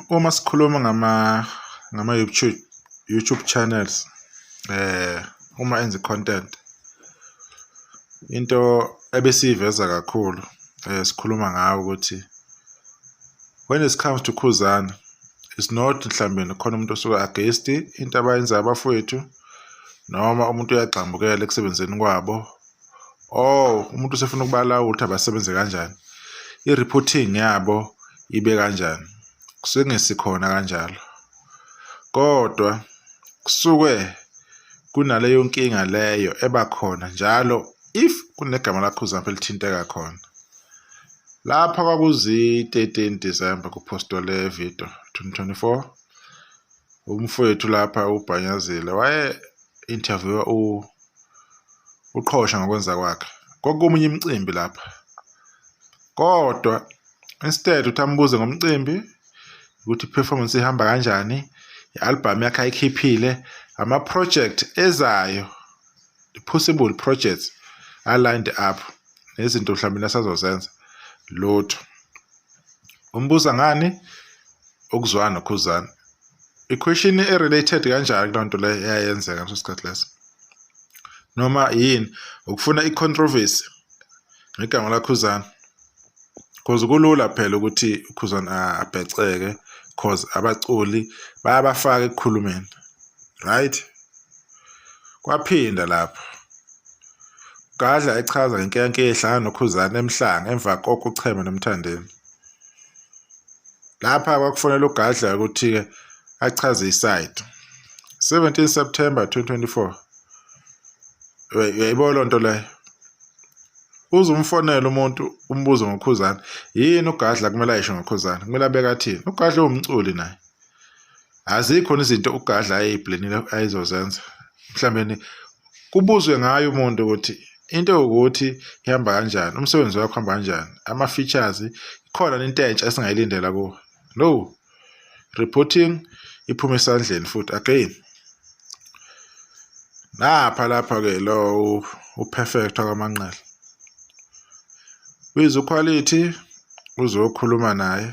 uma sikhuluma ngama ngama YouTube YouTube channels eh uma enza content into ebesiyiveza kakhulu eh sikhuluma ngayo ukuthi when it comes to Khuzana it's not mhlambe khona umuntu osuka against into abayenza abafowethu noma umuntu uyagxambukela ekusebenzeni kwabo oh umuntu usefuna ukubalawula ukuthi abasebenze kanjani i-reporting yabo ibe kanjani kusengesikhona kanjalo kodwa kusuke kunaleyo nkinga leyo eba khona njalo if kunegama lakho uzampe lithinteka khona lapha kwakuzi-13 December kuphostwe le video 2024 umfowethu lapha ubhanyazile waye interviewa u uqhosha ngokwenza kwakhe kokumunye imicimbi lapha kodwa instead uthi ambuze ngomcimbi ukuthi performance ihamba kanjani i-album yakhe ayikhiphile ama-project ezayo possible projects alined up nezinto mhlawumbe asazozenza lutho umbuza ngani ukuzwana nokhuzana i-question e-related kanjani kuloo nto leyo eyayenzeka ngaleso sikhathi leso noma yini ukufuna i-controversy ngegama lakhuzana cause kulula phela ukuthi ukhuzana abheceke cause abaculi bayabafaka ekukhulumeni right Kwaphinda lapho Gadla echaza ngenkeyanke ehlangana noKhuzani emhlanga emva kokuchema noMthandeni. Lapha kwakufanele uGadla ukuthi-ke achaze isayidi. 17 September 2024 yayibo loo nto leyo uze umfonele umuntu umbuzo ngokhuzana yini ugadla kumele ayisho ngokhuzana kumele abeke athini ugadla uwumculi naye azikhona izinto ugadla ayeyibhlenile ayizozenza mhlawumbe kubuzwe ngayo umuntu ukuthi into ukuthi ihamba kanjani umsebenzi wakho uhamba kanjani ama-features ikhona into entsha esingayilindela kuwo no reporting iphume esandleni futhi again napha lapha-ke lo uperfect wakamanqele wize ukhwalithi uzokhuluma naye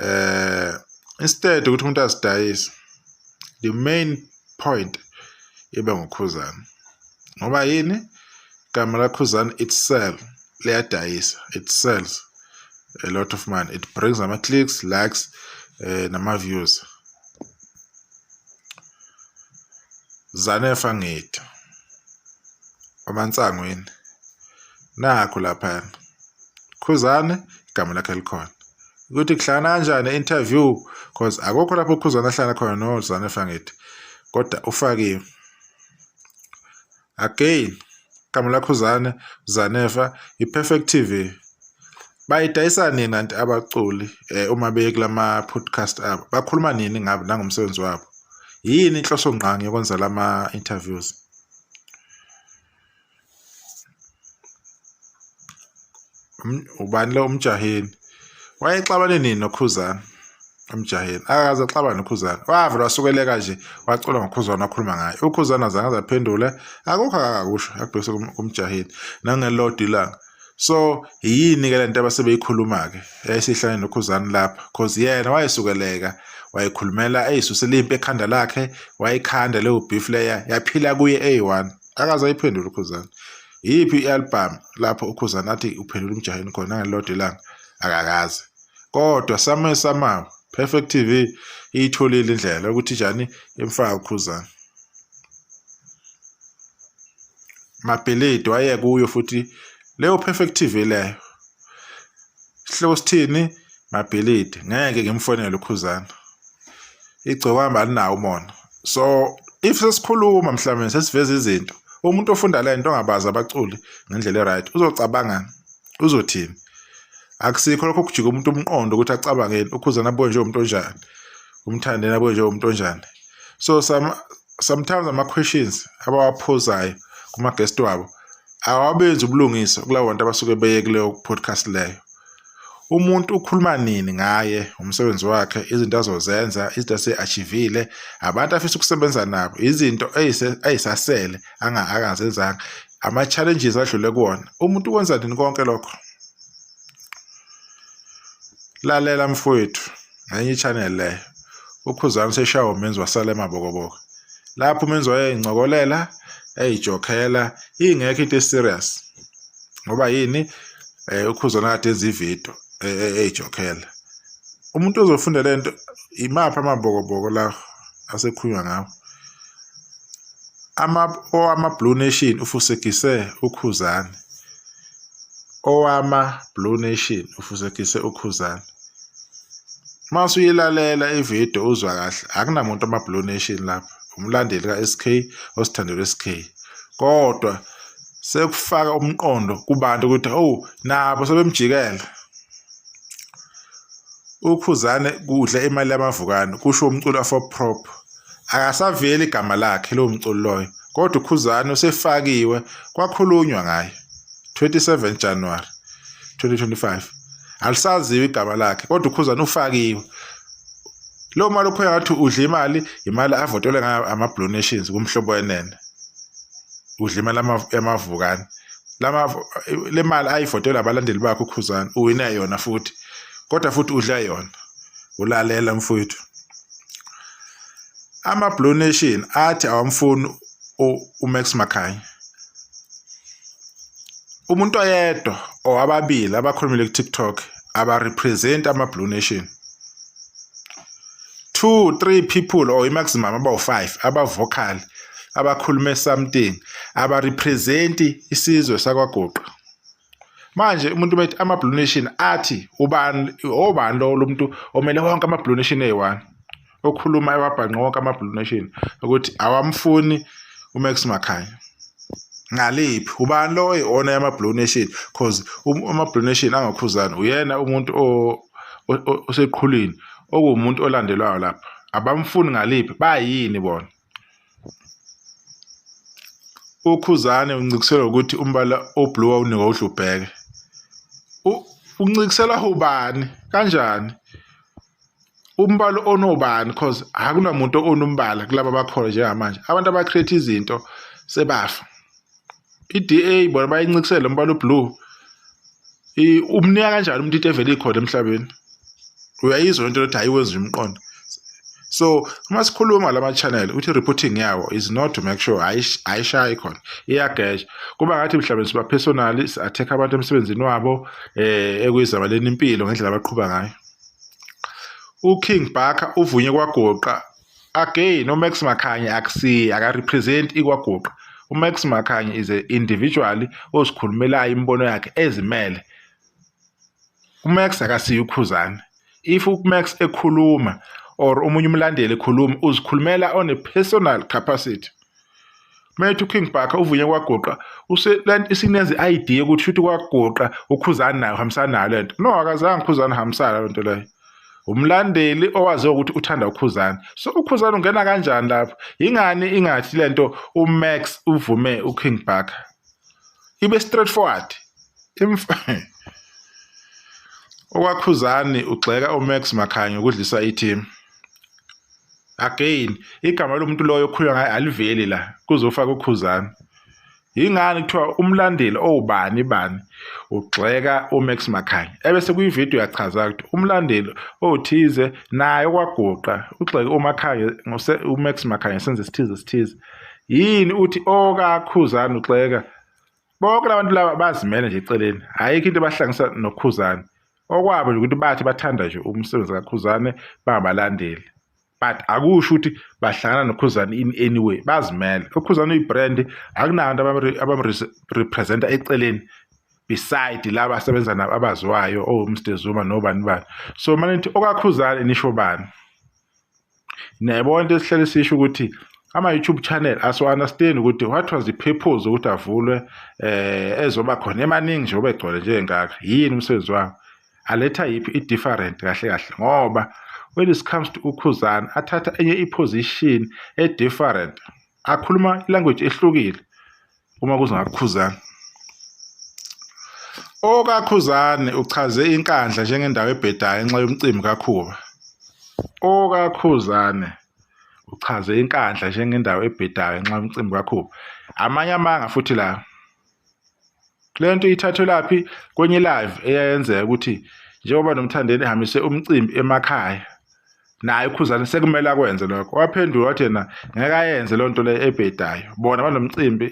eh instead ukuthi umuntu asidayise the main point ibe ngukhuzana ngoba yini igama lakhuzana it sell liyadayisa it sells a lot of money it brings ama clicks likes eh, nama views zanefa ngithi omansangweni nakho laphana khuzane igama lakhe likhona ukuthi kuhlangana kanjani interview cause akukho lapho ukhuzane ahlala khona nozane fangithi kodwa ufakiwe again igama lakho uzane zanefa i-perfect tv bayidayisa nini anti abaculi um uma beye kula ma-podcast abo bakhuluma nini ngabo nangomsebenzi wabo yini inhloso ngqangi yokwenza la ma-interviews ubani lo umjaheni wayexabane nini nokhuzana emjaheni akaze axabane nokhuzana wavele wasukeleka nje wacula ngokhuzana wakhuluma ngaye ukhuzana azange azaphendule akukho akakusho akubhekise kumjaheni nangelodi ilanga so yini-ke le nto abasebeyikhuluma-ke yayisihlane nokhuzani lapha cause yena wayesukeleka wayekhulumela eyisusela impi ekhanda lakhe wayikhanda leyo beef leya yaphila kuye eyi-one akazayiphendula ukhuzana yiphi i-album lapho ukhuzana athi uphendula umjaheni khona ngelilodwa ilanga akakaze kodwa same samawo perfect tv iyitholile indlela ukuthi njani imfaka ukhuzana mabhilidi waye kuyo futhi leyo perfect TV leyo sihloko sithini mabhilidi ngeke ngimfonele ukhuzana igcokama alinawo umona so if sesikhuluma mhlawumbe sesiveza izinto umuntu ofunda le nto ongabazi abaculi ngendlela e-right uzocabangani uzothini akusikho lokho kujika umuntu umqondo ukuthi acabangeni ukhuzana abuye njengomuntu onjani umthandeni abuye njengomuntu onjani so some, sometimes ama-questions abawaphuzayo kuma-guest wabo awabenzi ubulungisa kulawo bantu abasuke beye kuleyo podcast leyo umuntu ukhuluma nini ngaye umsebenzi wakhe izinto azozenza izinto ase-achivile abantu afisa ukusebenza nabo izinto ayisasele angazenzanga ama-challenges adlule kuwona umuntu ukwenza nini konke lokho lalela mfowethu ngenye i-channel leyo ukhuzani seshawa umenzi wasala emabokoboko lapho umenzi wayeyincokolela eyijokhela ingekho into eserious ngoba yini eh ukhuzana kade enza ividiyo e, e, eyijokhela umuntu ozofunda le nto imaphi amabokoboko la asekhulunywa ngawo ama owama blue nation ufusekise ukhuzani owama blue nation ufusekise ukhuzani uma usuyilalela ividiyo uzwa kahle akunamuntu ama-blue nation lapha umlandeli ka-sk osithandelo sk kodwa sekufaka umqondo kubantu ukuthi owu nabo sebemjikela ukhuzane kudla imali yamavukane kusho umculo afoprop akasaveli igama lakhe lowo mculo loyo kodwa ukhuzane usefakiwe kwakhulunywa ngaye 27 January 2025 alisaziwa igama lakhe kodwa ukhuzana ufakiwe lo mali ukhoya ngathi udla imali imali avotelwe ngayo ama-blue nations kumhlobo wenene udla imali yamavukane le mali ayivotelwe abalandeli bakhe ukhuzana uwine yona futhi kodwa futhi udla yona ulalela mfowethu ama-blue nation athi awamfuni uMax Makhanya umuntu oyedwa or ababili abakhulumile ku-TikTok abarepresent ama-Blue Nation two three people or i-maximum abawu-five abavocal abakhulume something abarepresenti isizwe sakwaguqa manje umuntu methi ama blue nation athi ubani obani lo lomuntu omele wonke ama blue nation eyi-one okhuluma ewabhanqa wonke ama blue nation ukuthi awamfuni umax makhanya ngaliphi ubani lo oyi-ona yama blue nation cause um, ama blue nation angakhuzani uyena umuntu oseqhulwini okuwumuntu olandelwayo lapha abamfuni ngaliphi bayini bona uKhuzane uncikisela ukuthi umbala oblue wawunikwa uDlubheke uncikisela ubani kanjani umbala onobani cause akunamuntu onombala kulaba bakhona njengamanje abantu abacreate izinto sebafa i-DA bona bayincikisele umbala oblue umnika kanjani umuntu into evele ikhona emhlabeni uyayizwa lento lokuthi hayi wenza umqondo so uma sikhuluma lama channel uthi reporting yawo is not to make sure ayishayi khona iyagesha kuba ngathi mhlawumbe siba personal si attack abantu emsebenzini wabo eh ekuyizabaleni impilo ngendlela abaqhuba ngayo uKing Barker uvunywe kwagoqa Again, uMax Makhanye akusiye akarepresent ikwaguqa. UMax Makhanye is a individual ozikhulumelayo imibono yakhe ezimele. UMax akasiye uKhuzani. If uMax ekhuluma or omunye umlandeli ekhuluma uzikhulumela on a personal capacity. Mayethi uKing Bhaka uvuye kwagoqa isineze i-ID yokuthi shuthi kwagoqa ukhuzani nayo hambisana nayo lento no akazange ukhuzani hambisana lento leyo umlandeli owaziwa ukuthi uthanda ukhuzani so ukhuzani ungena kanjani lapho yingani ingathi lento uMax uvume uKing Bhaka ibe straight forward okwakhuzani ugxeka uMax Makhanyo ukudlisa i-team again igama lomuntu loyo okhulunywa ngaye aliveli la kuzofaka ukhuzana yingani kuthiwa umlandeli owubani bani ugxeka uMax Makhanya ebese kuyivideo yachaza ukuthi umlandeli othize naye okwaguqa ugxeke uMakhanya ngose uMax Makhanya senze sithize sithize yini uthi okakhuzana ugxeka bonke labantu laba bazimele nje eceleni ayikho into ebahlangisa nokhuzane okwabo nje ukuthi bathi bathanda nje umsebenzi kakhuzane bangabalandeli but akusho ukuthi bahlangana nokhuzane in any way bazimele ukhuzane uyibrand akunabantu abamrepresenta eceleni beside laba asebenza nabo abaziwayo owumr oh, zuma nobani bani so manithi okakhuzane nisho bani niyayibona into esihlele sisho ukuthi ama-youtube channel asiwa-understand ukuthi what was the purpose ukuthi avulwe eh ezoba khona emaningi nje obegcwele njengengaka yini umsebenzi wawo aletha yiphi i-different kahle kahle ngoba when it comes to ukhuzana athatha enye i-position e-different akhuluma ilanguage ehlukile uma kuzingakukhuzana okakhuzane uchaze inkandla njengendawo ebhedayo ngenxa yomcimbi kakhuba okakhuzane uchaze inkandla njengendawo ebhedayo ngenxa yomcimbi kakhuba amanye amanga futhi la le nto ithathelaphi kwenye live eyayenzeka ukuthi njengoba nomthandeni ehambise umcimbi emakhaya naye ukhuzane sekumele akwenze lokho waphendula wathi yena ngeke ayenze loo nto leyo ebhedayo bona banomcimbi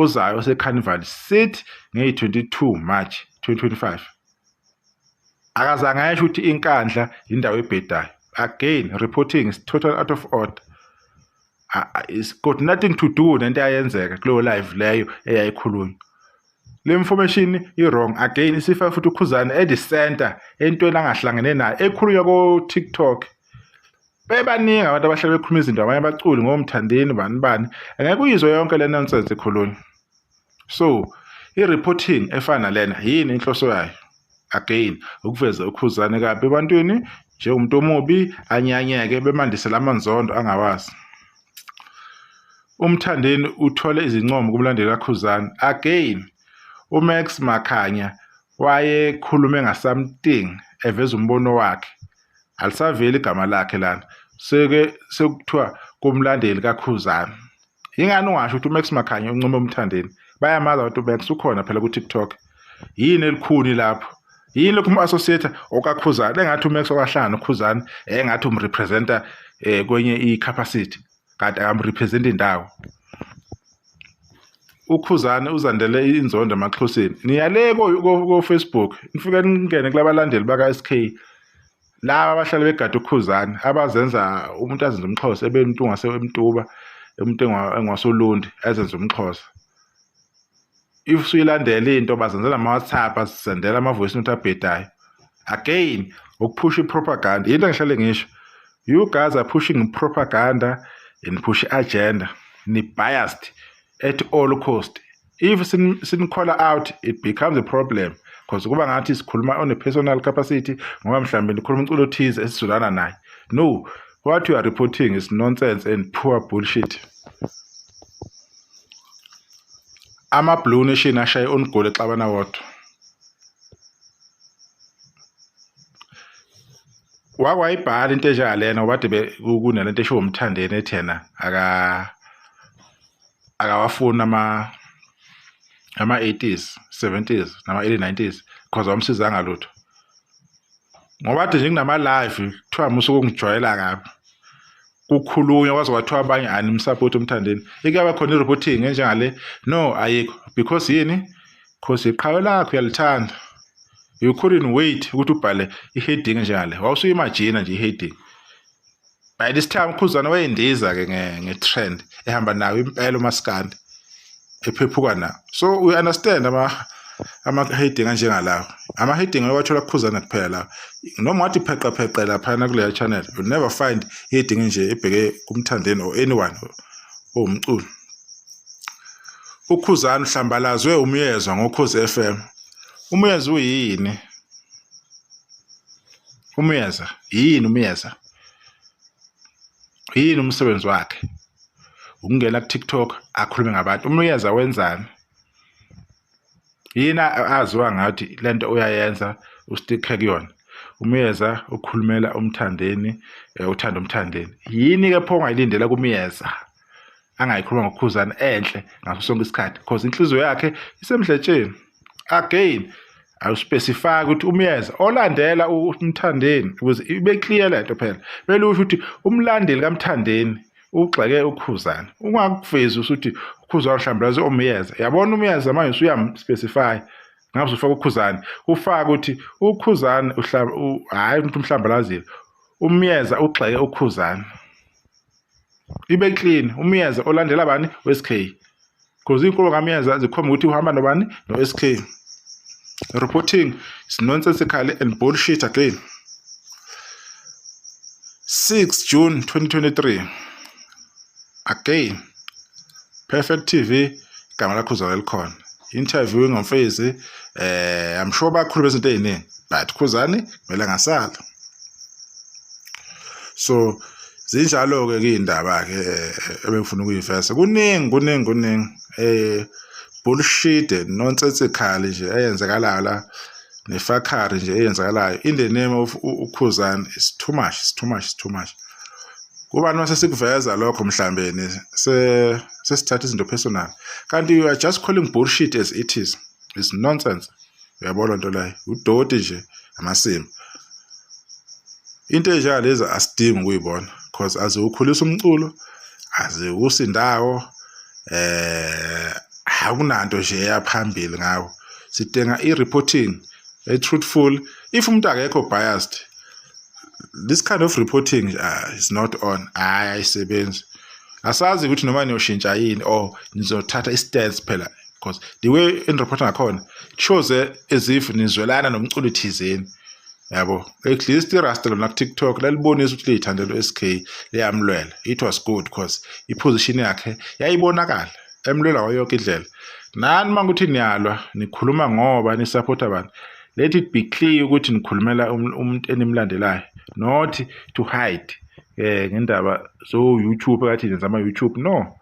uzayo osecarnival city ngeyi-22 march 2025 akazange ayesho ukuthi inkandla yindawo ebhedayo again reporting is total out of order it's got nothing to do nento eyayenzeka kuleyo live leyo eyayikhulunywa le information i-wrong again isifa futhi ukhuzane at the center entweni angahlangene nayo ekhulunywa ko-tiktok bebaningi abantu abahlale bekhuluma izinto abanye abaculi ngomthandeni bani bani angeke uyizwe yonke le nonsense ekhulunywa so i-reporting efana lena yini inhloso yayo again ukuveza ukhuzane kabi ebantwini njengomuntu omubi anyanyeke bemandisela amanzondo angawazi umthandeni uthole izincomo kumlandeli kakhuzane again umax makhanya wayekhulume ngasamting eveza umbono wakhe alisaveli igama lakhe lana seke sekuthiwa kumlandeli kakhuzane yingani ungasho ukuthi umax makhanya uncome umthandeni bayamazi abantu umax ukhona phela ku-tiktok yini elikhuni lapho yini lokhu umu-associator okakhuzana engathi umax okahlanga nokhuzana engathi umrepresenta um kwenye i-capacity kanti akamrepresenti indawo ukhuzane uzandele inzondo emaxhoseni niyale kofacebook nifike ningene kulabalandeli baka-sk laba abahlale begada ukhuzane abazenza umuntu azenza umxhosa ebentu ngase emtuba umuntu engwasolundi azenza umxhosa if suyilandela into bazenzela ama WhatsApp asisendela ama voice note abhedayo again ukuphusha ipropaganda yinto engihlale ngisho you guys are pushing propaganda and push agenda ni biased at all cost if sin, sin call out it becomes a problem because kuba ngathi sikhuluma on a personal capacity ngoba mhlawumbe nikhuluma umculo othize esizulana naye no what you are reporting is nonsense and poor bullshit ama-blue nation ashaye onigoli exabana wodwa wakwayibhala into enjengalena ngoba de kunalento eshiwo umthandeni ethi yena aka akawafuni ama ama 80s 70s nama early 90s because awamsizanga lutho ngoba nje nginama live kuthiwa musuku ungijwayela kabi kukhulunywa kwaze kwathiwa abanye animsupport umthandeni ikuyaba khona i-reporting enjengale no ayikho because yini because iqhawe lakho uyalithanda you couldn't wait ukuthi ubhale i-heading enjengale wawusuyimajina nje i-heading by this time ukhuzana wayindiza ke nge-trend ehamba nayo impela umaskandi ephephuka nawo so we understand ama ama-heading anjengalawo ama-heading owathola kukhuzana kuphela lawo noma wathi pheqapheqe laphana kuleya channel you never find heading nje ebheke kumthandeni or anyone owumculo ukhuzana uhlambalazwe umyezwa ngokhozi f m umyezwa uyini Umyeza yini umyeza? Yini umsebenzi wakhe? Ukungena ku TikTok akhulume ngabantu. Umyeza wenzani? Yini aziwa ngathi lento uyayenza ustikhe kuyona. Umyeza ukhulumela umthandeni eh, uthanda umthandeni. Yini ke pho ongayilindela kumyeza? angayikhuluma ngokukhuzana enhle ngaso sonke isikhathi because inhliziyo yakhe isemdletsheni again awuspecify ukuthi umyeza olandela umthandeni ukuze ibe clear lento phela bele usho ukuthi umlandeli kamthandeni ugxeke ukhuzana ungakuvezi ukuthi ukhuzana mhlawumbe lazo umyeza yabona umyeza manje usuyamspecify ngabe usufaka ukhuzana ufaka ukuthi ukhuzana hayi umuntu umhlawumbe lazile umyeza ugxeke ukhuzana ibe clean umyeza olandela bani weSK because inkolo kamyeza zikhomba ukuthi uhamba nobani noSK reporting is nonsensical and bullshit again 6 June 2023 again Perfect TV igama lakho uzalo elikhona interview ngomfezi eh i'm sure bakhulu bezinto eziningi but khuzani kumele ngasala so zinjalo-ke kuyindaba-ke eh, ebengifuna ukuyivesa kuningi kuningi kuningi um bullshit nonsensikhali nje eyenzekalayo la nefakhari nje eyenzakalayo in the name of ukhuzani is too much is too much is too much kubani mase sikuveza lokho mhlambeni sesithatha izinto personal kanti you are just calling bullshit as it is is nonsense uyabo lento leyo udoti nje amasimba into enjengalezi asidingi ukuyibona because aziwukhulisa umculo aziwusi ndawo eh akunanto nje eyaphambili ngawo sidinga i-reporting e-truthful if umuntu akekho biased this kind of reporting uh, is not on hayi ayisebenzi asazi ukuthi noma niyoshintsha yini or nizothatha i-stance phela because the way enirepotha ngakhona shows as if nizwelana nomculo thizeni yabo at least irasta lona kutiktok lalibonisa ukuthi liyithandela u-sk liyamlwela it was good because iposition yakhe yayibonakala emlwela wayo yonke indlela nani uma ukuthi niyalwa nikhuluma ngoba nisaphotha abantu let it be clear ukuthi nikhulumela um-, umuntu enimlandelayo not to hide um ngendaba so-youtube kathi nenza ama-youtube no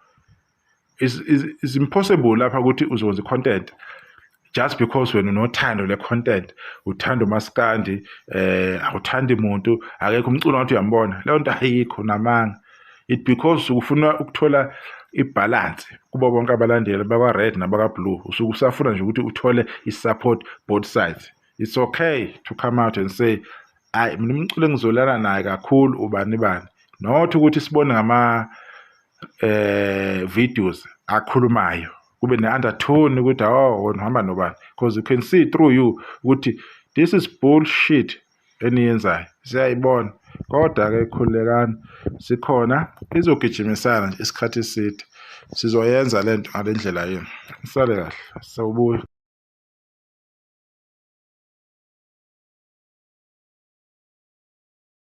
is, is, is impossible lapha ukuthi uzokwenza i-content just because wena unothando le-content uthanda umaskandi eh awuthandi muntu akekho umculo ngathi uyambona leyo nto ayikho namanga it because ufuna ukuthola ibhalansi kubo bonke abalandeli bakwa-red nabaka-blue usuke usafuna nje ukuthi uthole i-support both sides it's okay to come out and say ayi mina umculo engizolana naye kakhulu ubani bani not ukuthi sibone ngama eh videos akhulumayo kube ne-undertone ukuthi oh wena uhamba nobani because you can see through you ukuthi this is bullshit eniyenzayo siyayibona kodwa-ke khululekani sikhona izogijimisana nje isikhathi eside sizoyenza le nto ngale ndlela yenu sale kahle sawubuya